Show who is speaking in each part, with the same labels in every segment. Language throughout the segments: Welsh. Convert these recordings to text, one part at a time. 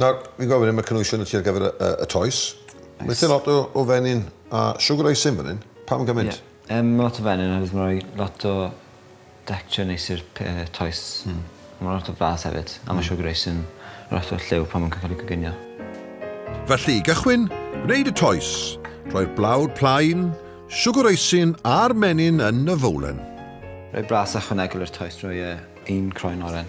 Speaker 1: Nawr, fi'n gofyn am y cynwysion y tu ar gyfer y, y, y toes. Mae Nice. lot o, o fenyn a sugar icing fan hyn. Pam gymaint? Ie. Yym, ma' lot o fenyn
Speaker 2: oherwydd ma' roi lot o decture neis i'r p- yy toes. Hmm. Ma' lot o flas hefyd a ma' sugar icing lot o lliw pan ma'n ca- ca'l 'i coginio. Felly,
Speaker 3: i gychwyn, gwneud y toes. Rhoi'r blawd plaen, sugar icing a'r menyn yn y fowlen. Rhoi blas
Speaker 2: ychwanegol i'r toes drwy yy un croen oren.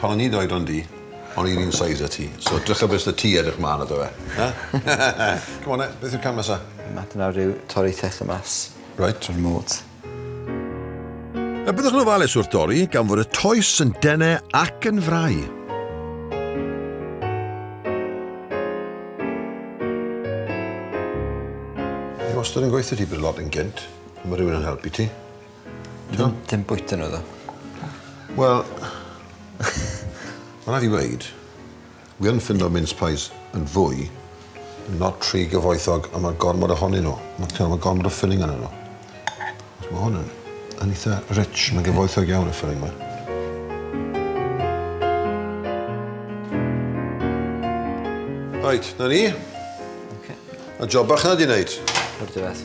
Speaker 1: Pan o'n i'n oedran di, o'n i'r un size â ti, so drycha be sy 'da ti edrych mlan iddo fe. Ia? C'm on 'en, beth yw'r cam nesa? Ma' hwnna nawr yw
Speaker 2: torri thethe mas. Reit. O'r môt.
Speaker 3: A byddwch yn ofalus wrth dorri gan fod y toes yn dene ac yn frai.
Speaker 1: Fi wastad yn gweutho ti bod y lot yn gynt, ma' rhywun yn helpu ti. Dim,
Speaker 2: dim bwyta nhw ddo. Wel,
Speaker 1: mae'n rhaid i weid, wi yn ffindo mince pies yn fwy, not rhy gyfoethog, a mae gormod ohonyn nhw. Mae ma gormod o filling yn nhw. Mae hwn yn, yn eitha rich, mae'n gyfoethog iawn y filling mae. Right, na ni. Okay. A job bach yna di wneud. O'r diwedd.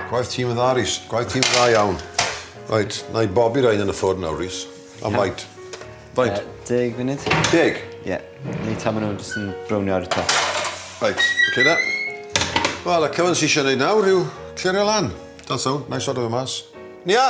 Speaker 1: Gwaith tîm yn dda, Rhys. Gwaith tîm yn dda iawn. Right, na i bobi rhain yn y ffwrn nawr, Rhys. Am faint? Faint? Uh, deg funud.
Speaker 2: Deg? Ie. Yeah.
Speaker 1: Neu
Speaker 2: ta maen nhw'n jyst yn brownio ar y top. Right, oce
Speaker 1: okay, da. Wel, y cyfan sy'n eisiau gwneud nawr yw clirio lan. That's all, na i sort of y mas. Nia!